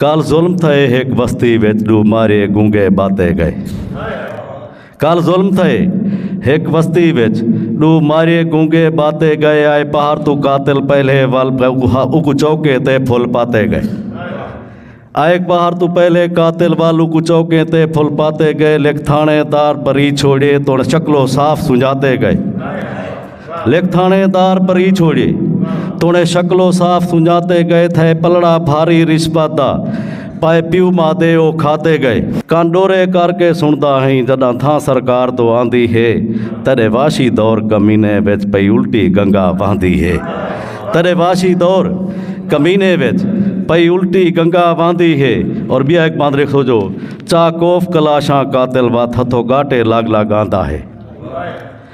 کل ظلم تھئے ہک بستی وچ ڈو مارے گونگے باتے گئے کل ظلم تھئے ہک بستی وچ ڈو مارے گونگے باتے گئے آئے پہر تو قاتل پہلے ول اکو چوکے تے پھل پاتے گئے آئے پہر تو پہلے قاتل ول اکو چوکے تے پھل پاتے گئے لکھ تھانے دار بری چھوڑے توڑ شکلو صاف سنجاتے گئے لیک تھانے دار پری چھوڑی توڑے شکل و صاف سنجاتے گئے تھے پلڑا بھاری رشپت دا پائے پیو مادے او کھاتے گئے کان ڈورے کر کے سندا ہیں جدا تھا سرکار تو آندی ہے تیرے واشی دور کمینے وچ پئی الٹی گنگا واندی ہے تیرے واشی دور کمینے وچ پئی الٹی گنگا واندی ہے اور بیا ایک باندرے سو جو چاکوف کلاشاں قاتل وات ہتھو گاٹے لاگ لاگ آندہ ہے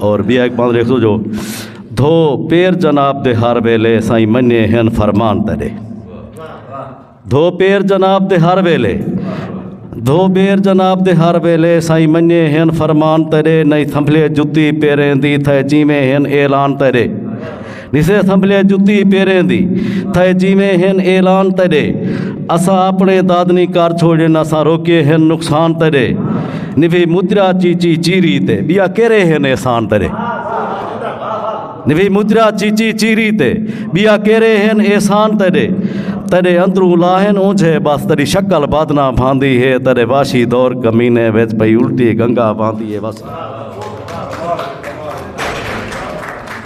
اور بیا ایک بند لکھ دو جو دھو پیر جناب دے ہر ویلے سائیں منیے ہن فرمان تیرے دھو پیر جناب دے ہر ویلے دھو پیر جناب دے ہر ویلے سائیں منیے ہن فرمان تیرے نہیں سنبھلے جتی پیریں دی تھے جیویں ہن اعلان تیرے جسے اسمبلی جتی پیریں دی تھے جیویں ہن اعلان تیرے اسا اپنے دادنی کار چھوڑے نہ سا روکے ہن نقصان تیرے نوی مدرا چیچی چیری تے بیا کرے ہن احسان تیرے نوی مدرا چیچی چیری تے بیا کرے ہن احسان تیرے تیرے اندروں لاہن اونجھے بس تیری شکل بادنا بھاندی ہے تیرے واشی دور کمینے ویچ پئی الٹی گنگا بھاندی ہے بس